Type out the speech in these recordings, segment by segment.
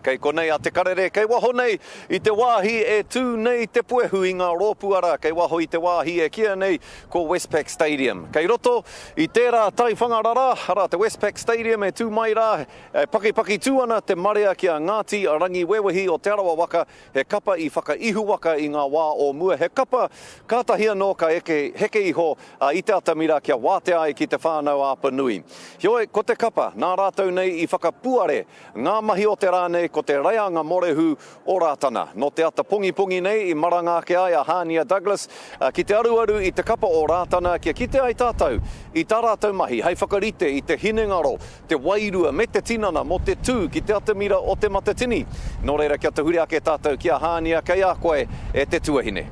Kei konei a Te Karere, kei waho nei i te wāhi e tū nei te puehu i ngā rōpū ara kei waho i te wāhi e kīia nei ko Westpac Stadium. Kei roto i tērā taiwhanga rara, arā te Westpac Stadium e tū mai rā, e pakipaki tū ana te marea ki a Ngāti Rangiwewehi o Te Arawa waka, he kapa i whakaihuwaka i ngā wā o mua, he kapa kātahi anō ka eke heke iho a I te atamira kia wātea ai ki te whānau āpanui. Heoi, ko te kapa, nā rātou nei i whakapuare Ngā mahi o te rā nei ko te reanga morehu o Rātana. Nō te ata pongipongi nei i maranga ake ai a Hānia Douglas ki te aruaru i te kapa o Rātana kia kite ai tātou i tā rātou mahi hei whakarite i te hinengaro, te wairua me te tinana mō te tū ki te atamira o Te Matatini. Nō reira kia tahuri ake tātou ki a Hānia kei a koe e te tuahine.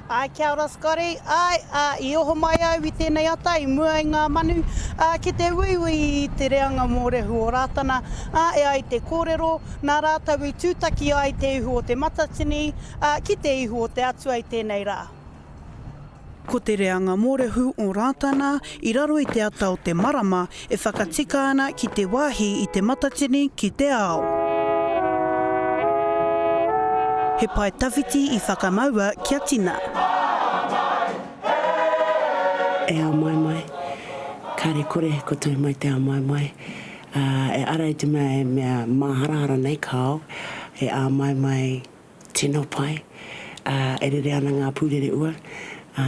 Āe, kia ora Scotty. Āe, ā, i oho mai au i tēnei ata i mua i ngā manu, ā, ki te uiui i te reanga mōrehu o Rātana, ā, e ai te kōrero, nā rātou i tūtaki ai te ihu o Te Matatini, ā, ki te ihu o te Atua i tēnei rā. Ko te reanga mōrehu o Rātana i raro i te ata o te marama E whakatika ana ki te wāhi i Te Matatini ki te ao. He pae tawhiti i whakamaua kia tina. E ao mai mai, kare kore ko tui mai te ao mai mai, a, e ara i te mea e mea māharahara nei ka ao, e ao mai mai tino pai, a, e rere ana ngā pūrere ua, a,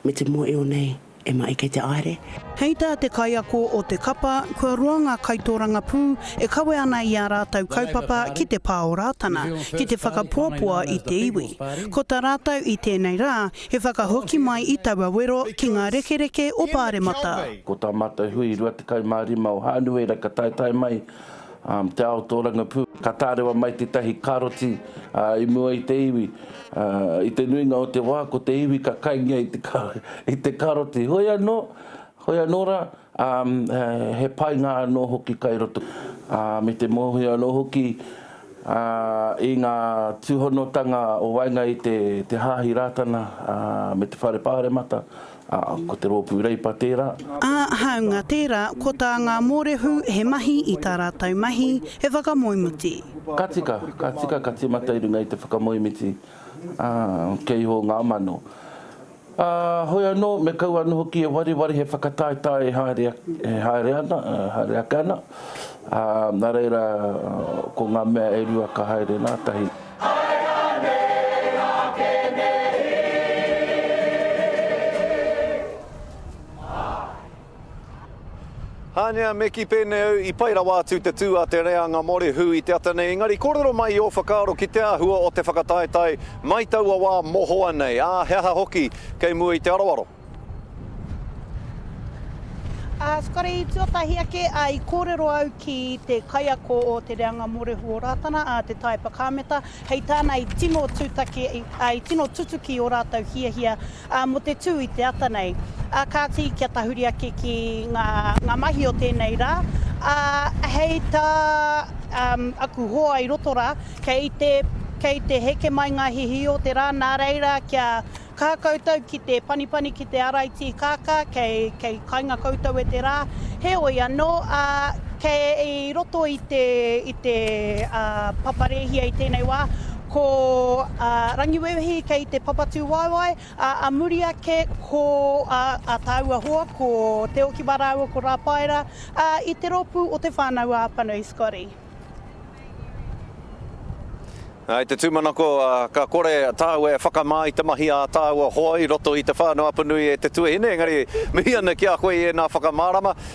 me te mōio nei. E maʻi kei te aere. Hei tā te kaiako o te kapa, kua roa ngā kaitōrangapū e kawe ana i ā rātou kaupapa ki te pā o Rātana, ki te whakapoapoa i te iwi. Ko tā rātou i tēnei rā, he whakahoki mai i taua wero ki ngā rekereke o Pāremata. Ko tā mātou hui 25 o Hānuera ka taetae mai Te ao tōrangapū. Ka tārewa mai tētahi karoti i mua i te iwi. I te nuinga o te wā, ko te iwi ka kaingia i te karoti. Hoi anō, hoi anō rā, he painga anō hoki kai roto. Me te mōhio anō hoki i ngā tūhonotanga o waenga i te Hāhi Rātana me te Whare Pāremata. Ā, ko te rōpū Reipa tērā. Ā, hāunga tērā, ko tā ngā mōrehu he mahi i tā rātou mahi, he whakamoemiti. Ka tika, ka tika, ka tīmata i runga i te whakamoemiti, ā, kei iho ngā mano. Ā, hoi anō, me kaua anō hoki e wareware he whakataetae e haere, e haere ana, e haere ake ana, ā, nā reira, ko ngā mea e rua ka haere ngā tahi. Hānia, me kī pēnei au, i pai rawa atu te tū a te reanga mōrehu i te ata nei, engari kōrero mai i ō whakaaro ki te āhua o te whakataetae mai taua wā mohoa nei, ā, he aha hoki kei mua i te aroaro? Ā, whakari tuatahi ake, ā, i kōrero au ki te kaiako o te reanga mōrehu o Rātana, ā, te Taepa Kāmeta, hei tāna i tino tūtaki, ā, i tino tutuki ō rātou hiahia ā, mō te tū i te ata nei. Ā, kāti, kia tahuri ake ki ngā, ngā mahi o tēnei rā, ā, hei tā um, aku hoa i roto rā, kei te kei te heke mai ngā hihi o te rā, nā reira kia Kā koutou ki te panipani ki te arai tīkākā, kei, kei kainga koutou e te rā. Heoi anō, ā, kei roto i te, i te, ā, papa rēhia i tēnei wā, ko, ā, Rangiwewehi kei te papatūwaewae, ā, a muri ake ko, ā, ā tāua hoa, ko Te Okiwa rāua ko Rāpaera, ā, i te rōpū o Te Whānau-ā-Apanui, Scotty. I te tūmanako, ka kore tāua e whakamā i te mahi ā tāua hoa i roto i te whānau apanui e te tuahine, engari mihi ana ki a koe i ēnā whakamārama.